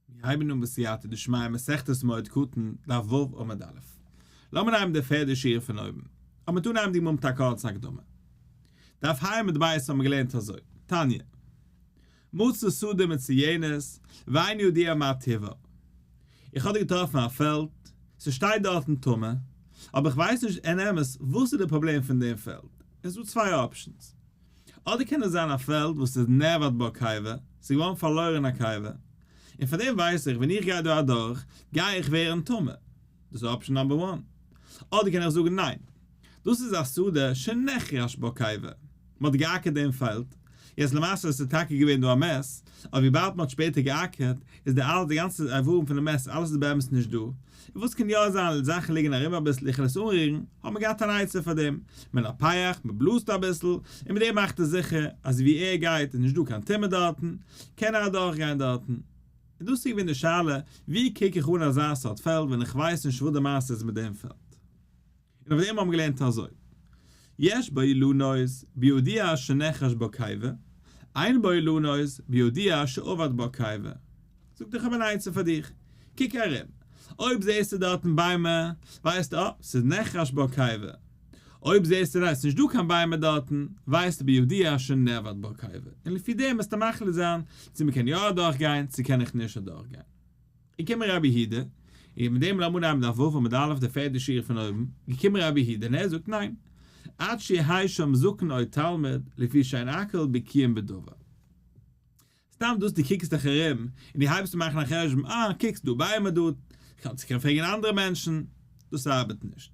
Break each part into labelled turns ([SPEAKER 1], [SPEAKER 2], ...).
[SPEAKER 1] מיר הייבן אן בסייעתא דשמיא מסכת מועד קטן, דף ו' עמוד א'. לאמיר הייבן די פערדע שורה פון אויבן. אז מ'טאר נעמען די מומ טאקע אלס הקדמה. דף ה' עמוד ב' האבן מיר געלערנט אזוי, תניא. מצא שדה מצויינת, ואין יודע מה טיבה. איך האב דא געטראפן א פעלד, ס'שטייט דארטן טמא, אבער איך ווייס נישט אין אמת וואס איז די פראבלעם פון דעם פעלד. עס איז דא צוויי אפשענס. אדער קען עס זיין א פעלד וואס איז נעבאוט ביי א קאווע, ס'איז געווארן פארלוירן אין א קאווע, און פאר דעם ווייס איך ווען איך גיי דא אדורך גיי איך ווערן טמא, דאס איז אפשען נאמבער וואן, אדער קען איך זאגן ניין, דאס איז א סעודה שנכרש ביי א קאווע, מ'האט געאקערט דעם פעלד, יעצט למעשה עס איז טאקע געווען דא א מעס, אבער וויבאלד מ'האט שפעטער געאקערט איז די אלעס די גאנצע איברים פונעם מעס אלעס איז באמת נישט דא, וואס קען יא זיין, זאכן ליגן ארום אביסל, איך וועל עס אנרירן, האט מען געהאט אן עצה פאר דעם, מען האט א פייעך, מען בלאזט אביסל, און מיט דעם מאכט ער זיכער אז ווי ער גייט איז נישט דא קיין טומאה דארטן, קען ער אדורך גיין דארטן. און דאס איז געווען די שאלה, ווי קוק איך אן אזא סארט פעלד ווען איך ווייס נישט וואס די מעשה איז מיט דעם פעלד? און אויף דעם האבן מיר געלערנט אזוי, יש בו אילנות בידיעה שנחש בו קיבה, אין בו אילנות בידיעה שאבד בו קיבה. זאגט איך האב אן עצה פאר דיך, קוק ארום, אויב זעסטו דארטן ביימער, ווייסטו אה, ס'איז נחש בו קיבה. אויב זעסטו ניין, ס'איז נישט דא קיין ביימער דארטן, ווייסטו בידיעה שנאבד בו קיבה. און לפי דעם וועסטו מחליט זיין צו מ'קען יא אדורך גיין, צו קען איך נישט אדורך גיין. געקומען רבי הידע, און געבן מיט דעם לעמוד עמוד א וו עמוד א' די פערטע שורה פון אויבן, געקומען רבי הידע און ער זאגט ניין, עד שיהי' שם זקן או תלמיד, לפי שאין אקל בקיאים בדבר. סתם דאס דו קוקסט דיך ארום און דו הייבסט אן מאכן א חשבון, אה, קוקסט דא ביימער דארט, קענסט קען פרעגן אנדערע מענטשן, דאס ארבעט נישט.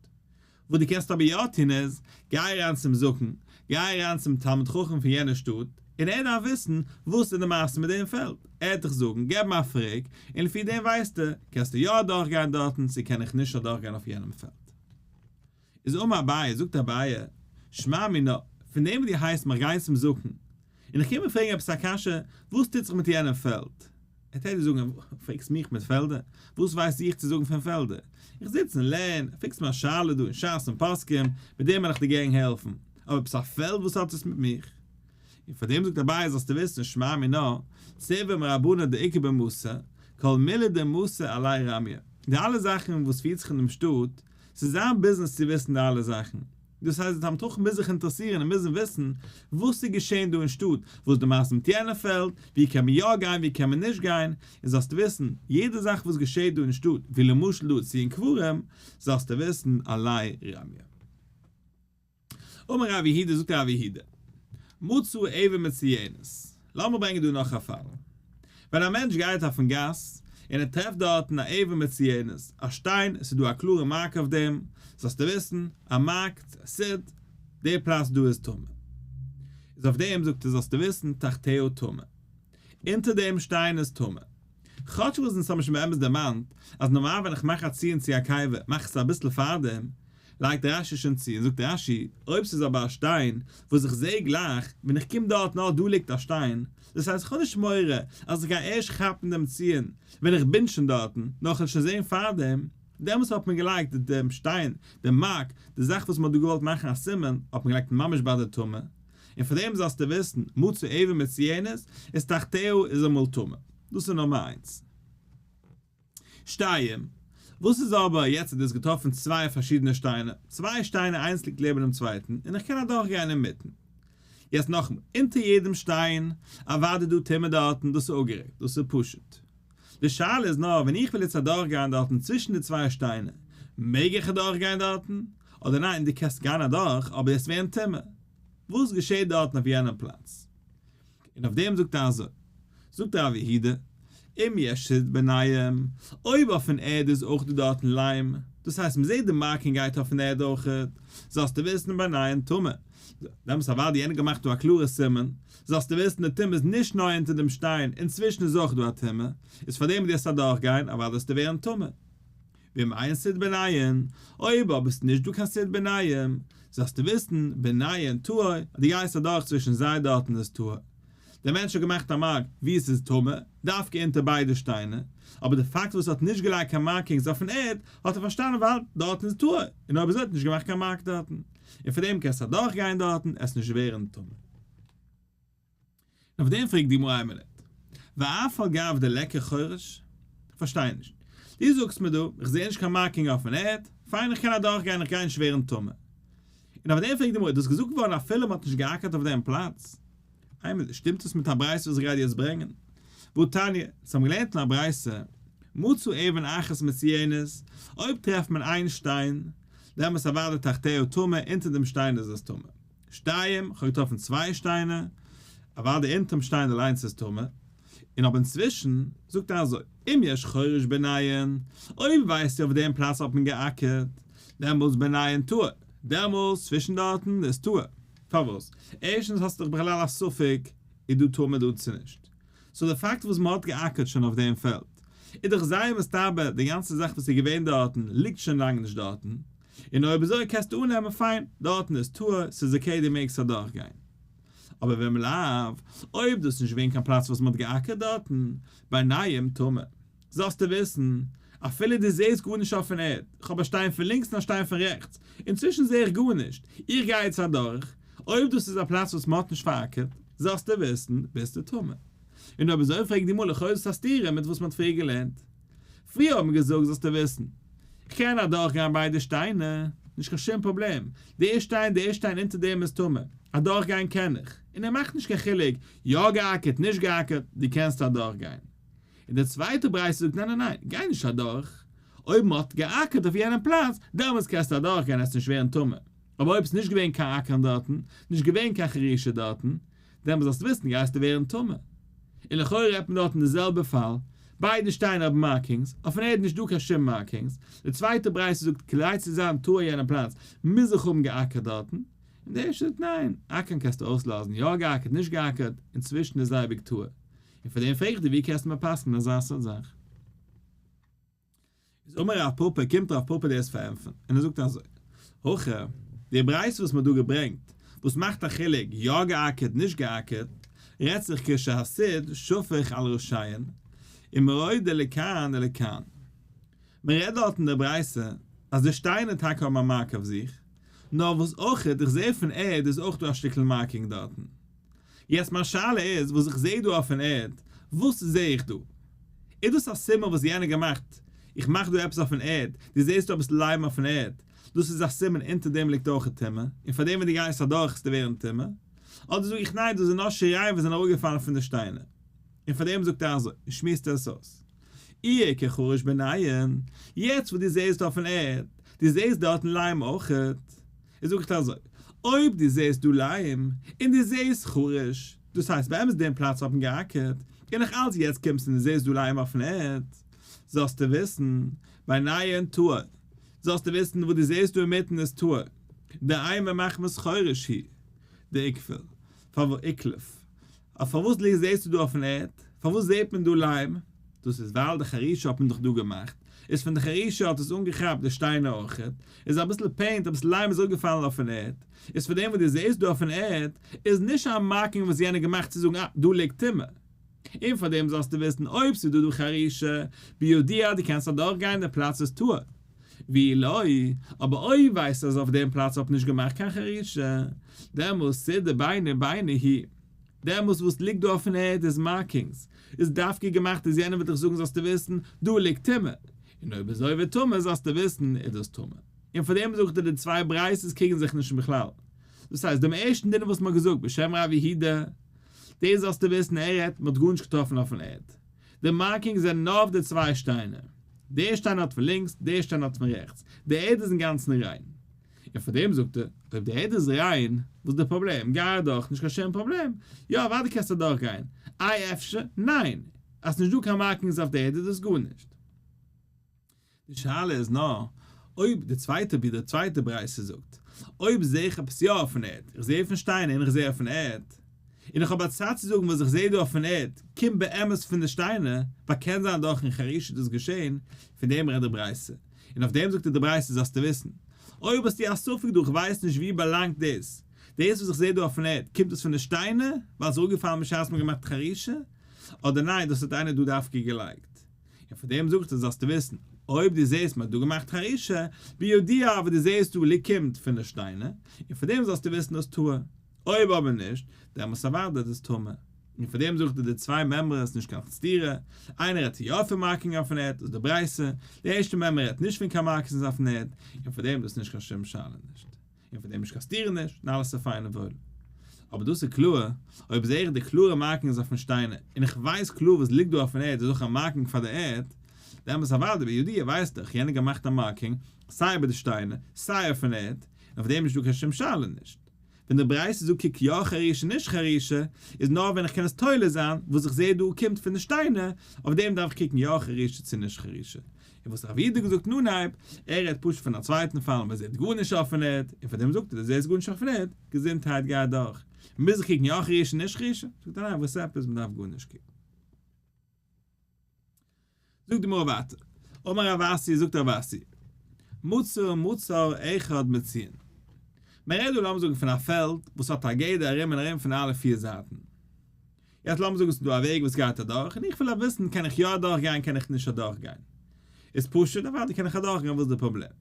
[SPEAKER 1] וואס דו קענסט אבער יא טון איז, גיי אריין צום זקן, גיי אריין צום תלמיד חכם פון יענע שטאט, און ער דארף וויסן וואס איז די מעשה מיט דעם פעלד, ער וועט דיך זאגן, געב אים א פרעג, און לפי דעם ווייסטו, קענסטו יא אדורכגיין דארטן צו קען איך נישט אדורכגיין אויף יענעם פעלד. איז אמר אביי, זאגט אביי, שמע מינה, פון דעם וואס דו הייסט מיך גיין צום זקן, און איך קום און פרעג עפעס א קשיא, וואס טוט זיך מיט יענעם פעלד? ער טעט דיר זאגן, פרעגסט מיך מיט פעלדער? וואס ווייס איך צו זאגן פון פעלדער? איך זיץ און לערן, פרעגסט מיר א שאלה דא אין שס און פוסקים, מיט דעם וועל איך דיר גערן העלפן, אבער עפעס א פעלד וואס האט עס מיט מיך? און פאר דעם זאגט אביי זאלסטו וויסן שמע מינה, צווה מרבנן דעיקר במסה, כל מילי דמסה עלי רמיה, די אלע זאכן וואס פירט זיך אין דעם שטאט, ס'איז זיין ביזנעס צו וויסן די אלע זאכן, דאס הייסט די תלמיד-חכם מוז זיך אינטערעסירן און מוזן וויסן וואס איז געשען דא אין שטאט, וואס די מעשה מיט יענע פעלד, וואו קען מען יא גיין וואו קען מען נישט גיין, און זאלסט וויסן, יעדע זאך וואס געשעט דא אין שטאט, ווי למשל דא צו אין קברים, זאלסטו וויסן עלי ראמיא. אמר ר' יהודה זאגט ר' יהודה, מצאו עבר מצויינת. לאמיר ברענגען דא נאך א פאל. ווען א מענטש גייט אויפן גאס, און ער טרעפט דארטן א עבר מציונות, א שטיין, עס איז דא א קלארע מארק אויף דעם, זאלסטו וויסן, א מארק, צו א סיד, דער פלאץ דא איז טמא. איז אויף דעם זאגט ער זאלסטו וויסן, תחתיהו טמא. אונטער דעם שטיין איז טמא. כאטש וואס אונז האבן שוין באמת דערמאנט אז נארמאל ווען איך מאך א ציון צו א קיבה מאך איך עס אביסל פארדעם, לייגט רש י שוין צו און זאגט רש י, אויב ס'איז אבער א שטיין וואס איך זעה גלייך ווען איך קום דארטן אה דא ליגט א שטיין, דאס הייסט איך האב נישט מורא אז איך גיי ערשט כאפן דעם ציון ווען איך בין שוין דארטן, נאר כ'וועל שוין זען פארדעם, דעמאלס האט מען געלייגט דעם שטיין, דעם מארק, די זאך וואס מ'האט דא געוואלט מאכן א סימן, האט מען געלייגט ממש ביי די טעמע, און פון דעם זאלסטו וויסן, מצוי עיבור מצויינת, איז תחתיהו איז אמאל טמא. דאס איז נומער איינס. שתיים, וואס איז אבער, יעצט האט דאס געטראפן צוויי פארשידענע שטיינער, צוויי שטיינער איינס ליגט לעבן דעם צווייטן, און איך קען אדורך גיין אינמיטן. יעצט נאכמאל, אונטער יעדעם שטיין, אוודאי איז דא טמא דארטן, דאס איז אפגערעדט, דאס איז פשוט. די שאלה איז נאר ווען איך וויל יעצט אדורך גיין דארטן צווישן די צוויי שטיינער, מעג איך אדורך גיין דארטן? אדער ניין דו קענסט גיין אדורך אבער יעצט ווערן טמא? וואס געשעט דארטן אויף יענעם פלאץ? און אויף דעם זאגט ער אזוי, זאגט ר' יהודה, אם יש שד בניים, אויב אויפן ערד איז אויך דא דארטן ליים, דאס הייסט מען זעט די מארק און גייט אויפן ערד אויך, זאלסטו וויסן בניים טמא, דעמאלטס אוודאי יענער האט געמאכט דא א קלארע סימן זאלסטו וויסן די טומאה איז נישט נאר אונטער דעם שטיין, אינצווישן איז אויך דא א טומאה, איז פאר דעם דארפסטו אדורך גיין אוודאי וועסטו ווערן טמא. ווי מיין ס'איז ביניים, אויב אבער ס'איז נישט דא קיין ס'איז ביניים, זאלסטו וויסן, ביניים טהור, אז דו גייסט אדורך צווישן זיי דארטן איז טהור. דער מענטש האט געמאכט א מארק וואו ס'איז טמא, דווקא אונטער ביידע שטיינער, אבער דער פאקט וואס ער האט נישט געלייגט קיין מארקינגס אויפן ערד, האט ער פארשטאנען ווייל דארטן איז טהור, און אויב אזוי האט נישט געמאכט קיין מארק דארטן, און פאר דעם קענסטו אדורך גיין דארטן, עס נישט ווערן טמא. אויף דעם פרעגט די גמרא עמלק ואף על גב די לעקער חורש? כ'פארשטיי נישט. דו זאגסט מיר דא, איך זעה נישט קיין מארקינג אויפן ערד, פיין איך קען אדורכגיין, איך גיי נישט ווערן טמא. און אויף דעם פרעגט די גמרא, דאס איז געזאגט געווארן אפילו מען האט נישט געאקערט אויף דעם פלאץ. עמלק, שטימט עס מיט א ברייתא וואס איך גיי דיר יעצט ברענגען. והא תניא, אונז האבן געלערנט אין א ברייתא, מצאו אבן אחת מצויינת, אויב טרעפט מען איין שטיין, דעמאלטס אוודאי תחתיהו טמא, אונטער דעם שטיין איז עס טמא. שטיים, כ'האב געטראפן צוויי שטיינער, אוודאי די אונטערן שטיין אליינס איז טמא, און אבער אינצווישן זאגט ער אזוי, אם יש חורש בענין, אויב ווייסטו אויף דעם פלאץ האט מען געאקערט, דעמאלס בענין טהור, דעמאלס צווישן דארטן איז טהור, פארוואס? ערשטנס האסטו דאך בכלל א ספק איז דא טומאה דא צו נישט, סאו די פאקט וואס מ'האט געאקערט שוין אויף דעם פעלד, איז דאך זייער מסתבר, די גאנצע זאך וואס איז געווען דארטן ליגט שוין לאנג נישט דארטן, און אויב אזוי קענסטו אננעמען פיין, דארטן איז טהור, ס'איז אקעי דו מעגסט אדורך גיין. אבער ווען מ'לאו, אויב דאס איז נישט געווען קיין פלאץ וואס מ'האט געאקערט דארטן, באינייעם טומאה, זאלסטו וויסן, אפילו דו זעהסט גארנישט אויפן ערד, כ'האב א שטיין פון לינקס און א שטיין פון רעכטס, אינצווישן זעה איך גארנישט, איך גיי יעצט אדורך, אויב דאס איז א פלאץ וואס מ'האט נישט פאר'אקערט, זאלסטו וויסן, ביסטו טמא. און אויב אזוי פרעג דו מלא חוזות א סתירה מיט וואס מ'האט פריער געלערנט. פריער האט מען געזאגט זאלסטו וויסן. איך קען אדורך גיין ביידע שטיינער, נישט קיין שום פראבלעם. די שטיין די שטיין אונטער דעם איז טמא. אדורך גיין קען איך. און ער מאכט נישט קיין חילוק, יא געאקערט נישט געאקערט, דו קענסט אדורך גיין. און די צווייטע ברייתא זאגט ניין ניין ניין, גיי נישט אדורך. אויב מען האט געאקערט אויף יענעם פלאץ, דעמאלטס קענסטו אדורך גיין עסט נישט ווערן טמא. אבער אויב ס'נישט געווען קיין אקערן דארטן, נישט געווען קיין חרישה דארטן, דעמאלס זאלסטו וויסן גייסטו ווערן טמא. און לכאורה רעדט מען דארט אין די זעלבע פאל, ביידע שטייען אויף מארקינגס, אויפן ערד איז נישטא קיין שום מארקינגס, די צווייטע ברייתא זאגט כדי צו זיין טהור אין יענע פלאץ מוז איך האבן געאקערט דארטן, און די ערשטע זאגט ניין, אקערן קענסטו אויסלאזן, יא געאקערט נישט געאקערט, אינצווישן איז אייביג טהור. און פאר דעם פרעג איך דיר ווי קענסטו מיר פסק'נען אזא סארט זאך? איז אמר רב פּאָפּאָ, קומט רב פּאָפּאָ דאס פארענטפערן, און ער זאגט אזוי, הכא, די ברייתא וואס מ'האט דא געברענגט, וואס מאכט א חילוק, יא גע'אקערט, נישט גע'אקערט, רעדט זיך כ ש הסית שופך על רשעין, און מוריד די לכאן אל לכאן. מ'רעדט דארט אין דער ברייתא, אז די שטיינער טאקע האבן א מארק אויף זיך, נאר וואס אויך, איך זע פון ערד איז אויך דא א שטיקל מארקינג דארטן. יעצט מיין שאלה איז, וואס איך זעה דא אויפן ערד, וואס זעה איך דא? איז דאס א סימן וואס יענער געמאכט? איך מאך דא עפעס אויפן ערד, דו זעסט דא עפעס לייבן אויפן ערד, דאס איז א סימן אונטער דעם ליגט אויך א טומאה, און פאר דעם ווען דו גייסט אדורך עסטו ווערן טמא? אדער זאג איך ניין דאס איז נאר שיריים וואס זענען אראפגעפאלן פון די שטיינער, און פאר דעם זאגט ער אזוי, און שמועסט עס אויס. איה כ חרש בענין, יעצט וואס דו זעסט דא אויפן ערד, דו זעסט דארטן לייבן אויכעט, ער זאגט אזוי, אויב דו זעהסט דא ליים, און דו זעהסט חריש, דאס הייסט באמת דעם פלאץ האט מען געאקערט, און נאך אלץ יעצט קומסטו און דו זעהסט דא ליים אויפן ערד, זאלסטו וויסן, ביי נייען טהור, זאלסטו וויסן וואס דו זעהסט דא אינמיטן איז טהור, דהיימע מחמת חריש היא, די עיקוועל, פארוואס עיקלעף, אויף פארוואס ליכט זעהסטו דא אויפן ערד? פארוואס זעהט מען דא ליים? דאס איז ווייל די חרישה האט מען דאך דא געמאכט, איז פון די חרישה האט עס אנגעכאפט די שטיינער אויך, איז אביסל פעינט אביסל ליים איז אויפגעפאלן אויפן ערד, איז פון דעם וואס דו זעהסט דא אויפן ערד, איז נישט א מארקינג וואס יענער געמאכט צו זאגן אה דא ליגט טומאה. און פאר דעם זאלסטו וויסן אויב ס'איז דא דא חרישה, בידיעה דו קענסט אדורך גיין די פלאץ איז טהור. ווי לוי, אבער אויב ווייסט אז אויף דעם פלאץ האט נישט געמאכט קיין חרישה, דעמאלס צו די ביינער ביינער הי, דעמאלס וואס ליגט דא אויפן ערד איז מארקינגס, איז דווקא געמאכט אז יענער וועט דיך זאגן זאלסטו וויסן, דא ליגט טומאה, און אויב איז עובר טומאה זאלסטו וויסן איז דאס טומאה. און פאר דעם זאגט ער די צוויי בריית'עס קריגן זיך נישט בכלל. דאס הייסט, דעם ערשטן דין וואס מ'האט געזאגט בשם רב יהודה, דאס זאלסטו וויסן ער רעדט, מ'האט גארנישט געטראפן אויפן ערד, די מארקינגס זענען נאר אויף די צוויי שטיינער. דער שטיין האט פון לינקס, דער שטיין האט פון רעכטס. די ערד איז אינגאנצן ריין. און פאר דעם זאגט ער, אויב די ערד איז ריין, וואס די פראבלעם? גיי אדורך, נישט קיין שום פראבלעם. יא, אוודאי קענסטו אדורך גיין. איי אפשר? ניין! אז ס'נישט דא קיין מארקינגס אויף די ערד איז דאס גארנישט. די שאלה איז נאר אויב די צווייטע ווי די צווייטע ברייתא זאגט, אויב זעה איך עפעס יא אויפן ערד, איך זעה אויפן שטיינער און איך זעה אויפן ערד, און איך האב א צד צו זאגן וואס איך זעה דא אויפן ערד קומט באמת פון די שטיינער, ווייל קען זיין דורכן חריש איז דאס געשעהן, פון דעם רעדט די ברייתא, און אויף דעם זאגט די ברייתא זאלסטו וויסן, אויב האסטו א ספק דא איך ווייס נישט ווי באלאנגט דאס, דאס וואס איך זעה דא אויפן ערד קומט דאס פון די שטיינער ווייל עס איז אפגעפאלן בשעת מען האט געמאכט חרישה, אדער ניין דאס האט איינער דא דווקא געלייגט. און פון דעם זאגט ער זאלסטו וויסן, אויב דו זעסט מען האט דא געמאכט חרישה, בידיעה אבער דו זעסט דא לי קומט פון די שטיינער, און פון דעם זאלסטו וויסן דאס טהור, אויב אבער נישט, דעמאלטס אוודאי דאס איז טמא. און פון דעם זאגט ער די צוויי מימרות איז נישט קיין סתירה, איינער רעדט יא פון מארקינג אויפן ערד, דאס איז די ברייתא, די ערשטע מימרא רעדט נישט פון קיין מארקינס אויפן ערד, און פון דעם דאס איז נישט קיין שום שאלה נישט. און פון דעם נישט קאסטירן נישט, און אלעס איז פיין און וואויל. אבער דאס איז קלאר, אויב זע איך די קלארע מארקינגס אויפן שטיין, און איך ווייס קלאר וואס ליגט דא אויפן ערד איז אויך א מארקינג פאר די ערד, דעמאלס אוודאי די בידיעה ווייסט דאך יענער געמאכט א מארקינג סיי איבער די שטיינער, סיי אויפן ערד, און אויף דעם איז נישט דא קיין שום שאלה נישט. ווען די ברייתא זאגט קוק יא חרישה נישט חרישה, איז נאר ווען איך קען עס תולה זיין, וואס איך זע דא קומט פון די שטיינער, אויף דעם דארף איך קוקן יא חרישה צו נישט חרישה. און וואס רב איד האט געזאגט אין אנהייב, ער רעדט פשוט פון א צווייטן פאל ווען זי האט גארנישט אפענעט, און פאר דעם זאגט ער דאס זי איז גארנישט אפענעט, געזונטהייט גייט דורך, מוז איך קוקן יא כרישא נישט כרישא? זאגט ער ניין וואס עפעס מען דארף גארנישט קוקן. זאגט די גמרא ווייטער, אמר רב אשי זאגט רב אשי, מוצר מוצר אחד מציעין, מען רעדט דא לאמיר זאגן פון א פעלד וואס האט א גדר ארום און ארום פון אלע פיר זייטן, יעצט לאמיר זאגן ס'דא א וועג וואס גייט אדורך, און איך וויל וויסן קען איך יא אדורך גיין קען איך נישט אדורך גיין. איז פשוט אוודאי קען איך אדורך גיין וואס איז די פראבלעם.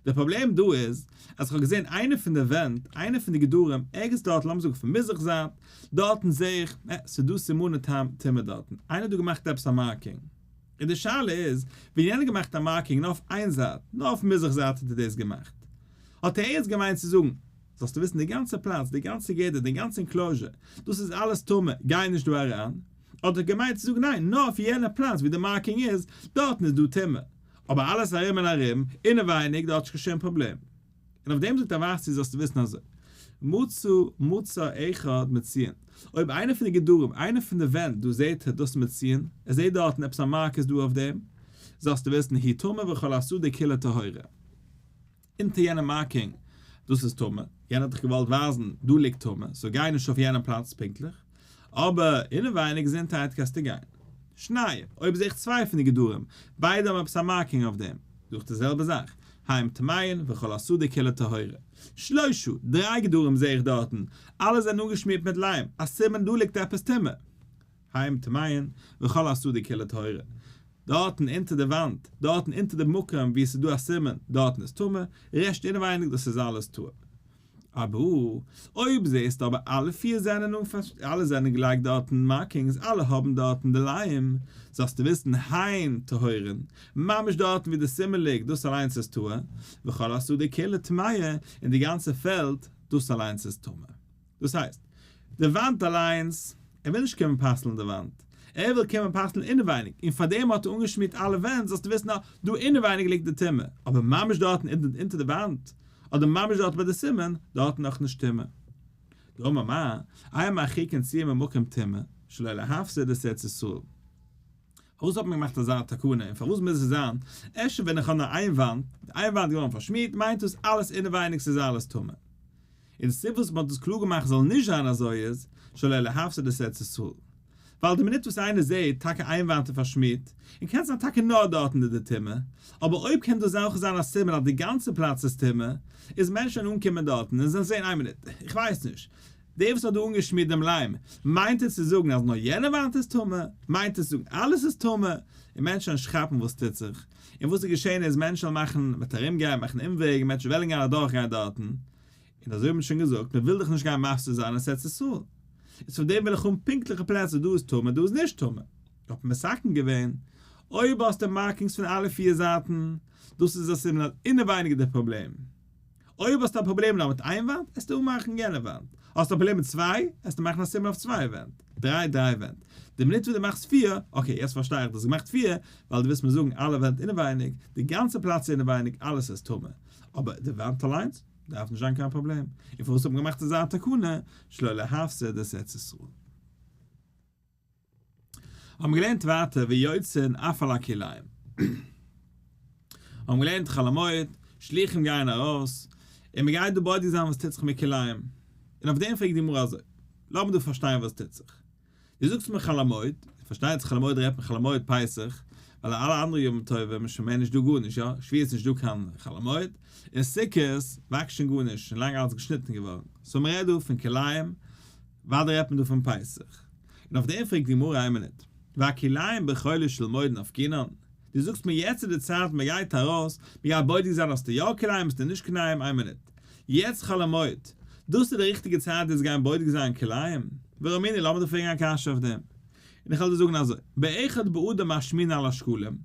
[SPEAKER 1] די פראבלעם דא איז אז איך האב געזען איינע פון די ווענט, איינע פון די גדרים, ערגעץ דארט לאמיר זאגן פון מזרח זייט, דארטן זעה איך אה ס'דא סימני טעם טומאה דארטן, איינער האט דא געמאכט עפעס א מארקינג. און די שאלה איז, ווען יענער האט געמאכט א מארקינג נאר אויף איין זייט, נאר אויפן מזרח זייט האט ער דאס געמאכט, האט ער ערגעץ געמיינט צו זאגן, זאלסטו וויסן די גאנצע פלאץ, די גאנצע גדר, די גאנצע אינקלאזשער, דאס איז אלעס טמא, גיי נישט דא אריין, האט דאך געמיינט צו זאגן ניין, נאר אויף יענע פלאץ ווי די מארקינג איז, דארטן איז דא טומאה, אבער אלעס ארום און ארום, אינעווייניג, דארט איז קיין שום פראבלעם. און אויף דעם זאגט ער ווייסטו, זאלסטו וויסן אזוי, מצא מצא אחד מציון, אויב איינע פון די גדרים, איינע פון די ווענט דא זעט ער דאס מציון, ער זעט דארטן עפעס א מארק איז דא אויף דעם, זאלסטו וויסן היא טמאה וכל הסדה כולה טהורה. אונטער יענעם מארקינג, דאס איז טמא, יענער האט דיך געוואלט ווייזן, דא ליגט טמא, סאו גיי נישט אויף יענעם פלאץ פונקטליך, אבער אינעווייניג געזונטהייט קענסטו גיין. שניי, אויב זע איך צוויי פון די גדרים, ביידע האבן עפעס א מארקינג אויף דעם, זאג איך די זעלבע זאך, הים טמא'ין וכל השדה כולו טהרה. שלושה, דריי גדרים זע איך דארטן, אלע זענען אנגעשמירט מיט ליים, א סימן דא ליגט עפעס טמא. היים טמאיען וכל הסדו כלי טהרה, דארטן אונטער די וואנט, דארטן אונטער די מקום ווי עס איז דא א סימן, דארטן איז טמא, רעשט אינעווייניג דאס איז אלעס טהור. אבער אויב זעסטו אבער אלע פיר זענען אן פארשטעק, אלע זענען געלייגט דארטן מארקינגס, אלע האבן דארטן די ליים, זאלסטו וויסן היים טהורין, ממש דארטן ווי די סימן ליגט, דאס אליינס איז טהור, וכל הסדו כלי טמאיען, און די גאנצע פעלד, דאס אליינס איז טמא. דאס הייסט, די וואנט אליינס, ער וויל נישט קומען פסל'ן די וואנט, ער וויל קומען פסל'ן אינעווייניג, און פארדעם האט ער אנגעשמירט אלע ווענט, זאלסטו וויסן אז דא אינעווייניג ליגט די טומאה, אבער ממש דארטן אונטער די וואנט, אדער ממש דארט ביי די סימן, דארטן נאך נישט טומאה. דאמר מה, איה מרחיקין ציה ממקום טמא, שלא להפסיד את ארץ ישראל. פארוואס האט מען געמאכט אזא תקנה, און פארוואס מוז עס זיין, אפשר ווען איך האב נאר איין וואנט, די איין וואנט איז געווארן פארשמירט, מיינט דאס אלעס אינעווייניג ס'איז אלעס טמא? און סיבה וואס מען האט דאס קלאר געמאכט זאל נישט זיין אזוי איז, שלא להפסיד את ארץ ישראל. ווייל די מינוט וואס איינער זעהט טאקע איין וואנט איז פארשמירט, און קען זיין טאקע נאר דארט איז די טומאה, אבער אויב קען דאס אויך זיין א סימן אז די גאנצע פלאץ איז טמא, איז מענטש וועלן אנקומען דארטן און זעלן זעהן איין מינוט, איך ווייס נישט, דער וואס האט דא אנגעשמירט דעם ליים, מיינט ער צו זאגן אז נאר יענע וואנט איז טמא? מיינט ער צו זאגן אלעס איז טמא? און מענטש וועלן נישט כאפן וואס טוט זיך, און וואס איז געשעהן איז מענטש וועלן מאכן, מען וועט ארום גיין, מאכן אומוועג, מענטש וועלן גיין אדורך גיין דארטן, און אזוי האט מען שוין געזאגט, מען וויל דאך נישט גיין מפסיד זיין ארץ ישראל, איז פון דעם וויל איך האבן פונקטליכע פלעצער, דא איז טמא דא איז נישט טמא, האט מען מסכם געווען, אויב האסטו מארקינגס פון אלע פיר זייטן, דאס איז א סימן אז אינעווייניג די פראבלעם, אויב האסטו א פראבלעם נאר מיט איין וואנט, עסטו אנמאכן יענע וואנט, האסטו א פראבלעם מיט צוויי, עסטו מאכן א סימן אויף צוויי ווענט, דריי דריי ווענט, די מינוט וואס דו מאכסט פיר, אקעי יעצט פארשטיי איך דו האסט געמאכט פיר, ווייל דו ווילסט מיר זאגן אלע ווענט אינעווייניג, די גאנצע פלאץ איז אינעווייניג, אלעס איז טמא, אבער די וואנט אליינס דארף נישט זיין קיין פראבלעם, און פארוואס האט מען געמאכט אזא תקנה שלא להפסיד את ארץ ישראל? האבן מיר געלערנט ווייטער ויוצאין אף על הכלאים. האבן געלערנט חול המועד, שליחים גייען ארויס, און מען גייט דא בודק זיין וואס טוט זיך מיט כלאים. און אויף דעם פרעגט די גמרא אזוי, לאמיר דא פארשטיין וואס טוט זיך. דו זאגסט מיר חול המועד, איז פארשטייט זיך חול המועד רעדט מען חול המועד פסח, ווייל אלע אנדערע ימים טובים איז שוין מער נישט דא גארנישט יא, שביעי איז נישט דא קיין חול המועד, און סוכות וואקסט שוין גארנישט, שוין לאנג אלעס געשניטן געווארן, סאו מען רעדט דא פון כלאים, וואדע רעדט מען דא פון פסח. און אויף דעם פרעגט די גמרא איין מינוט, והכלאים בחולו של מועד נפקינן, דו זאגסט מיר יעצט איז די צייט מען גייט ארויס, מען גייט בודק זיין האסטו יא כליים האסטו נישט כליים, איין מינוט, יעצט חול המועד, דאס איז די ריכטיגע צייט יעצט גיין בודק זיין כליים? והא מיני, לאמיר דיר פרעגן א קשיא אויף דעם, און איך וועל דיר זאגן אזוי, באחד בעדה משמין על השקלים,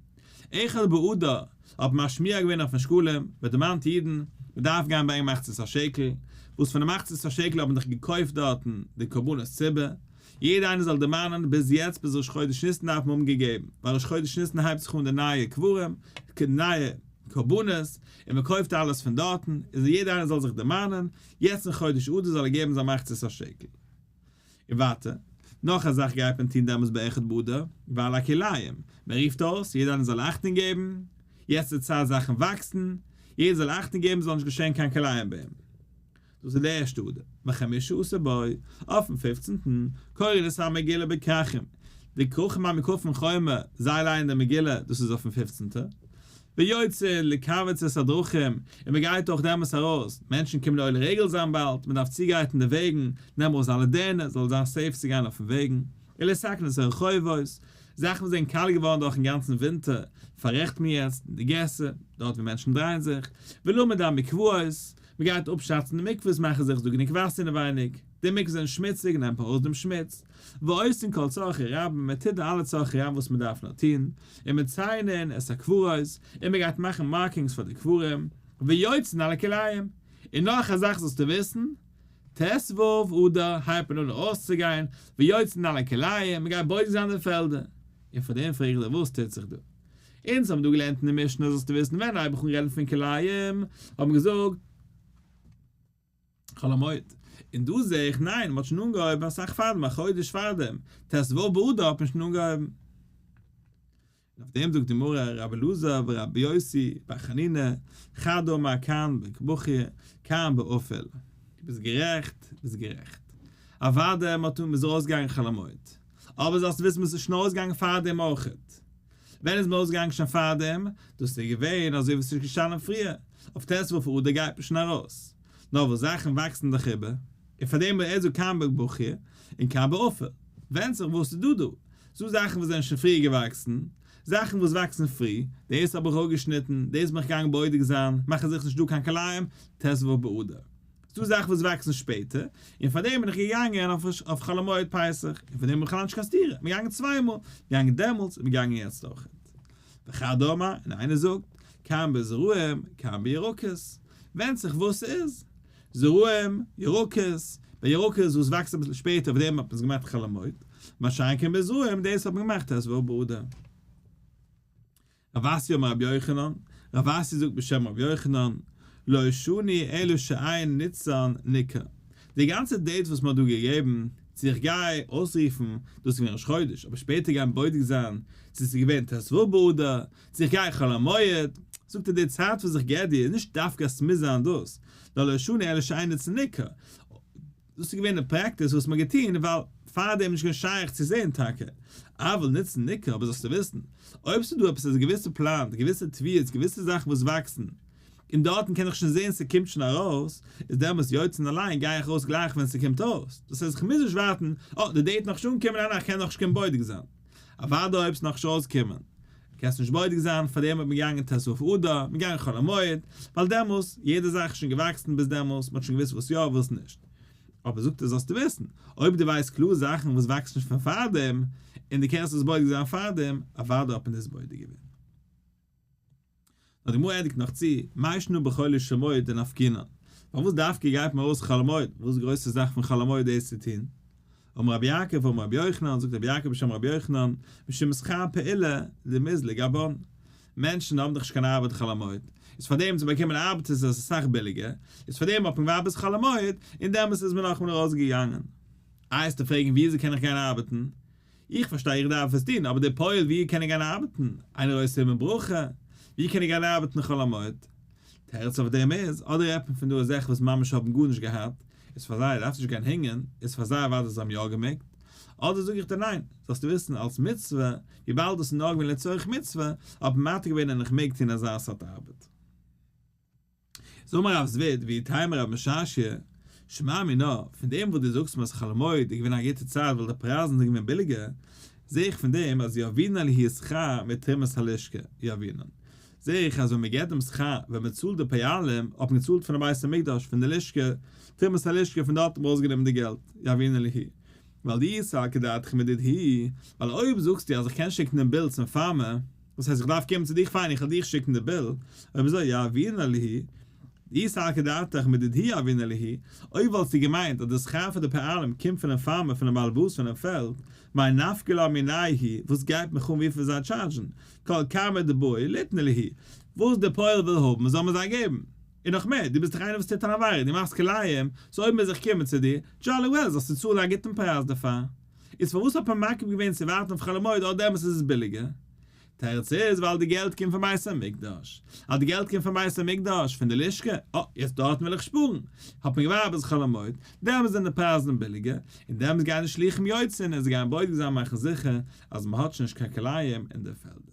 [SPEAKER 1] אחד בעדה האט משמיע געווען אויפן שקלים, מען דערמאנט אידן, מען דארף גיין ברענגען מחצית השקל, וואס פון די מחצית השקל האט מען דאך געקויפט דארטן די קרבנות ציבור, יעדער איינער זאל דערמאנען, ביז יעצט ביז ראש חודש ניסן דארף מען האבן געגעבן, ווייל ראש חודש ניסן הייבט זיך אן די נייע קברים, נייע קרבנות, און מען קויפט אלעס פון דארטן, איז יעדער איינער זאל זיך דערמאנען, יעצט אין חודש אדר זאל ער געבן זיין מחצית השקל. און ווייטער, נאך א זאך גייט מען טון דעמאלס ביי אחד באדר, ווייל הכלאים, מען רופט אויס, יעדער איינער זאל אכטונג געבן, יעצט איז צייט זאכן וואקסן, יעדער זאל אכטונג געבן ס'זאל נישט געשען קיין כלאים ביים דאס איז די ערשטע אדר, וחמישה עשר בו, אויפן פופצנטן, קוראים דאס א מגילה בכרכים, די כרכים ביים מקוה פון חומה, זיי לייענען די מגילה, דאס איז אויפן פופצנטע, ויוצאין לקבץ את הדרכים, און מען גייט אויך דעמאלס ארויס, מענטשן קומען די עולי רגל זיין באלד, מען דארף צוגרייטן די וועגן, נעם ארויס דיינע דערנער, ס'זאל זיין סעיף צו גיין אויפן וועגן, און לסכן את הרחובות, זאכן וואס זענען קאלט געווארן דורכן גאנצן ווינטער, פאררעכט מען יעצט, די געסער, דארט ווי מענטשן דרייען זיך, ולומד המקוואות, מען גייט אפשאצן די מקוואות מאכן זיך איז דא גענוג וואסער אינעווייניג, די מקוואות זענען שמוציג נעמט ארויס דעם שמוץ, ועושים כל צרכי רבים מען טוט די אלע צרכי רבים וואס מען דארף נאר טון, און מציינים את הקברות, און מען גייט מאכן מארקינגס פאר די קברים, ויוצאין אל הכלאים, און נאך א זאך זאלסטו וויסן, ט ו אדר הייבט מען אן ארויסצוגיין, ויוצאין אל הכלאים, מען גייט בודק זיין די פעלדער, און פאר דעם פרעג איך דיר וואס טוט זיך דא? אונז האבן דא געלערנט אין די משנה זאלסטו וויסן ווען הייב איך אן רעדן פון כלאים האט מען געזאגט חול המועד און דא זעה איך ניין מען האט שוין אנגעהויבן אסאך פארדעם א חודש פארדעם ט ו באדר האט מען שוין אנגעהויבן און אויף דעם זאגט די מרא ר' אלעזר ור' יוסי בר חנינא חד אמר כאן בק בכי כאן באפעל. דו ביסט גערעכט, ביסט גערעכט. אוואדע מען האט אן מען איז ארויסגעגאנגען חול המועד. אבער זאלסט וויסן וואס איז שוין אויסגעגאנגען פארדעם אויך. ווען איז מען אויסגעגאנגען שוין פארדעם? דאס איז געווען אזוי ווי עס איז געשטאנען פריער, אויף ט' ו' פון אדר גייט מען שוין ארויס. נאר וואס זאכן וואקסן דאך איבער. און פארדעם איז דא קיין ב' בוכ י און קיין ב' עופר. ווענדט זיך וואס איז דא דא. ס'דא זאכן וואס זענען שוין פריער געוואקסן, זאכן וואס וואקסן פרי, דאס האב איך אפגעשניטן, דאס בין איך געגאנגען בודק זיין, מאכן זיך נישט דא קיין כלאים, ט' ו' באדר. ס'דא זאכן וואס וואקסן שפעטער, און פאר דעם בין איך געגאנגען אויף חול המועד פסח, און פאר דעם האב איך בכלל נישט קיין סתירה, מ'איז געגאנגען צוויי מאל, געגאנגען דעמאלטס, און מ'געגאנגען יעצט אויך. וכדו' אמר, און איינער זאגט, כאן בזרעים, כאן בירקות, ווענדט זיך וואס ס'איז, זרעים, ירקות, ביי ירקות איז וואס וואקסט אביסל שפעטער אויף דעם האט מען עס געמאכט חול המועד, מה שאין כן ביי זרעים דאס האט מען געמאכט ט ו באדר. רב אשי אמר רבי יוחנן, רב אשי זאגט בשם רבי יוחנן, לא שני אלא שעיין ניצן ניקר, די גאנצע דעיט וואס מ'האט דא געגעבן צו איך גיי אויסרופן, דאס איז געווען ראש חודש, אבער שפעטער גיין בודק זיין צו ס'איז געווען ט ו באדר, צו איך גיי חול המועד, זאגט ער די צייט וואס איך געב דיר איז נישט דווקא אז ס'מוז זיין דאס, ווייל לא שני אלא שעיין ניצן ניקר, דאס איז געווען די פרעקטיס וואס מ'האט געטון ווייל פארדעם איז נישט געווען שייך צו זען טאקע אבל נוצן ניכר אבער זאלסטו וויסן אויב ס'איז דא עפעס אזא געוויסע פלאנט געוויסע טוויעטס געוויסע זאכן וואס וואקסן און דארטן קען איך שוין זען ס'קומט שוין ארויס איז דעמאלטס יא און אליין גיי איך אויס גלייך ווען ס'קומט אויס דאס הייסט איך מוז נישט ווארטן אה די דעיט נאך נישט אנגעקומען ניין איך קען נאכנישט קען בודק זיין. אוודאי אויב ס'נאך נישט אויסגעקומען, קענסט נישט בודק זיין, פאר דעם האט מען געגאנגען ת ס אב אדר, מען געגאנגען חול המועד, ווייל דעמאלס, יעדע זאך איז שוין געוואקסן ביז דעמאלס, מ'האט שוין געוואוסט וואס יא וואס נישט. אבער זאגט ער זאלסטו וויסן, אויב דו ווייסט קלאר זאכן וואס וואקסט נישט פון פארדעם, און דו קענסט עס בודק זיין פארדעם, אוודאי האט מען דאס בודק געווען. די גמרא ענדיגט נאך צו, מה ישנו בחולי שמועד דנפקינן? פארוואס דווקא גייט מען ארויס חול המועד? וואס איז די גרויסע זאך פון חול המועד דאס צו טון? אמר רבי יעקב אמר רבי יוחנן, זאגט רבי יעקב בשם רבי יוחנן, משום שכר פעולה דמזלג אבון. מענטשן האבן דאך נישט קיין ארבעט חול המועד, איז פאר דעם צו באקומען ארבעט איז עס אסאך ביליגער, איז פאר דעם האט מען געווארט ביז חול המועד, און דעמאלס איז מען נאכמער ארויסגעגאנגען. איי עסטו פרעגן ווי אזוי קען איך גיין ארבעטן? איך פארשטיי איך דארף עס טון, אבער די פועל ווי קען איך גיין ארבעטן? איינער אויסער אבן ברכה? ווי קען איך גיין ארבעטן חול המועד? תירוץ אויף דעם איז, אדער רעדט מען פון דא אזעלכע וואס ממש האבן גארנישט געהאט, איז פאר זיי דארפסטו נישט גיין הענגען, איז פאר זיי אוודאי זיי האבן יא געמעגט, אדער זאג איך דיר ניין, זאלסטו וויסן אלס מצוה, וויבאלד דאס איז נאר געווען לצורך מצוה, האט מען מתיר געווען און איך מעג טון אזא סארט ארבעט. זאג מיר רב זביד, ווי טייל מיר רב משאשי, שמע מינה, פון דעם וואס דו זאגסט מאז חול המועד איז געווען א גוטע צייט ווייל די פרייזן זענען געווען ביליגער, זע איך פון דעם אז יאבינן היא שכר מתרומת הלשכה, יאבינן, זע איך אז ווען מען געט דעם שכר, ווען מען צאלט די פיילים, האט מען געצאלט פון די בית המקדש, פון די לשכה, תרומת הלשכה, פון דארט האט מען ארויסגענומען די געלט, יאבינן היא. ווייל דו איסר על כדאתך מדיד היא, ווייל אויב זאגסטו אז איך קען שיקן דעם ביל צום פארמער, וואס הייסט איך דארף קומען צו דיך? פיין איך וועל דיך שיקן די ביל, אויב אזוי יא אבינה ליהי, די סלקא דעתך מיט די דהי אבינה ליהי, אויב וואלסטו געמיינט אז די שכר פאר די פעלים קומט פונעם פארמער פונעם בעל באס פונעם פעלד, מאי נפקא ליה מינאי הי', וואס גייט מיך אן וויפיל זיי טשארדזשן, כל כמה דבאי ליתנה ליהי, וואס די פועל וויל האבן זאל מען זיי געבן, און נאך מער, דו ביסט דאך איינער וואס טוט אן עבירה, דו מאכסט כלאים, סאו אויב מוז איך קומען צו דיר, דזשאלי וועל זאלסטו צאלן א גוטן פרייז דערפאר. איז פארוואס האט מען מקפיד געווען צו ווארטן אויף חול המועד אויב דעמאלטס איז עס ביליגער? תירוץ איז ווייל די געלט קומט פון בית המקדש. אז די געלט קומט פון בית המקדש, פון די לשכה, אה, יעצט דארטן וויל איך שפארן, האט מען געווארט ביז חול המועד, דעמאלטס זענען די פרייזן ביליגער, און דעמאלטס גייען די שלוחים יוצא און עס גייען בודק זיין מאכן זיכער אז מען האט שוין נישט קיין כלאים אין די פעלדער.